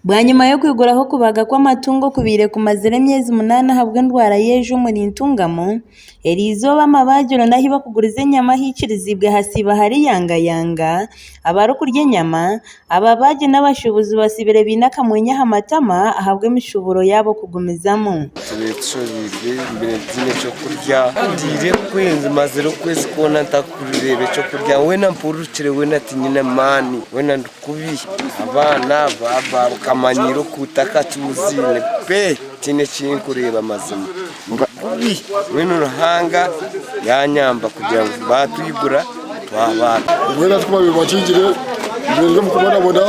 Bwanyima y'okwiguraho okubaga kw'amatungo okubaire kumazire emyezi munaana ahabw'endwara y'enju omuri Ntungamo, eri izooba amabagiro n'ahu barikuguriza enyama haikiriziibwe hasiiba hari yanga yanga, abarikurya enyama, ababaagi n'abashuubuzi batsiibire baine akamwenyo aha matama ahabw'emishuuburo yaabo kugumizamu. Kurireeba eky'okurya weena mpururukire weena tinyine maani weena ndi kubi abaana baaba bakamanyiira oku takacuuziine pee tiine ekinkureeba mazima ndi kubi mbwenu Ruhanga yanyamba kugira ngu batwigura twaba Mbwenu hati kubabiire bakingire mbereire omu kubonabona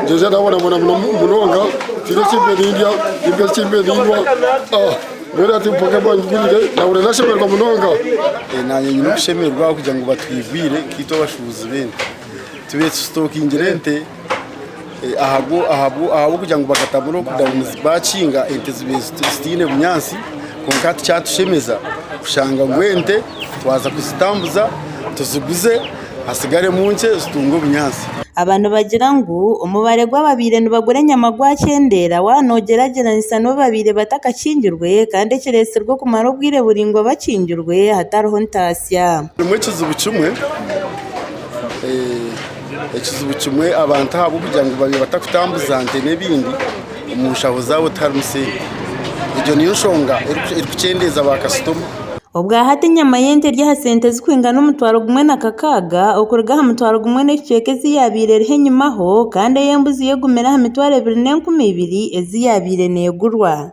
ngyengyera nabonabona munonga tiine ekimpiire nindya timpire ekimpiire ninywa aah. Mbwenu hati mpooke abu bangiguriire, naahurira naashemererwa munonga. Ee, naanye nyine okushemererwa ahabw'okugira ngu batwigwire nkaitwe abashuubuzi b'ente. Tubaire tusitookingire ente eh, ahabwo ahabwo ahabw'okugira ngu bakatamu lockdown zi- baakinga, ente zibaire ziti- zitaine bunyaatsi. Kwonka hati kyatushemeza kushanga ngu ente twaza kuzitambuza tuziguze hasigaremu nkye zitunge obunyaatsi. Aba nibagira ngu omubare gw'ababaire nibagura enyama gwakyendeera waaba noogyeragyeranisa n'obu babaire batakakingirwe kandi ekireetsirwe okumara obwire buraingwa bakingirwe hatariho ntaasya. Harimu ekizibu kimwe, ekizibu kimwe abantu ahabw'okugira ngu babaire batakutambuza nte n'ebindi. Omu nshaho zaabo tiharimu sente. Egyo niyo nshonga erikukyendeeza baakasitoma. Obwahati enyama y'ente eri aha sente zirikwingana omutwaro gumwe na kakaaga okuruga aha mutwaro gumwe n'ekicweka ezi yaabaire eriho enyimaho kandi ey'embuzi yo egumire aha mitwaro ebiri n'enkumi ibiri ezi yaabaire neegurwa.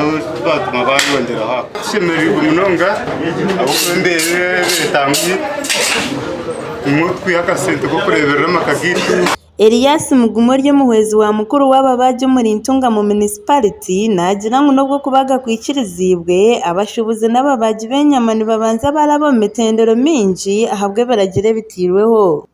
Ekitwatuma baayongyera aha ku. Tushemereirwe munonga ahabw'okuba embeera egi etambwire nimwo twiha akasente k'okureeberera amaka gaitu. Elias Mugume ori omuhwezi wa mukuru w'ababaagi omuri Ntungamo munisipariti, naagira ngu n'obu okubaga kwikiriziibwe, abashuubuzi n'ababaagi b'enyama nibabanza baaraaba omu mitendero mingi ahabw'ebiragiro ebitairweho.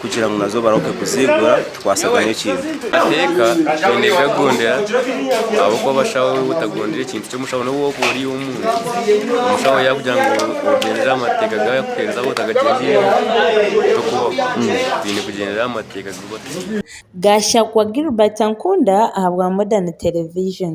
kugira ngu nazo barahuke kuziigura tikwatsagana ekintu. Amateeka twine kugagondera ahabw'okuba abashaho otagondire ekintu ky'omushaho n'obu waakuba ori ow'omuhanda, omushaho yaakugira ngu ogyendere aha mateeka gaawe yaakuheereza waaba otagagyendeiremu tokubaho. Twine kugyendera aha mateeka agu batuhaire. Gashakwa Gilbert Ankunda ahabwa Modern Television.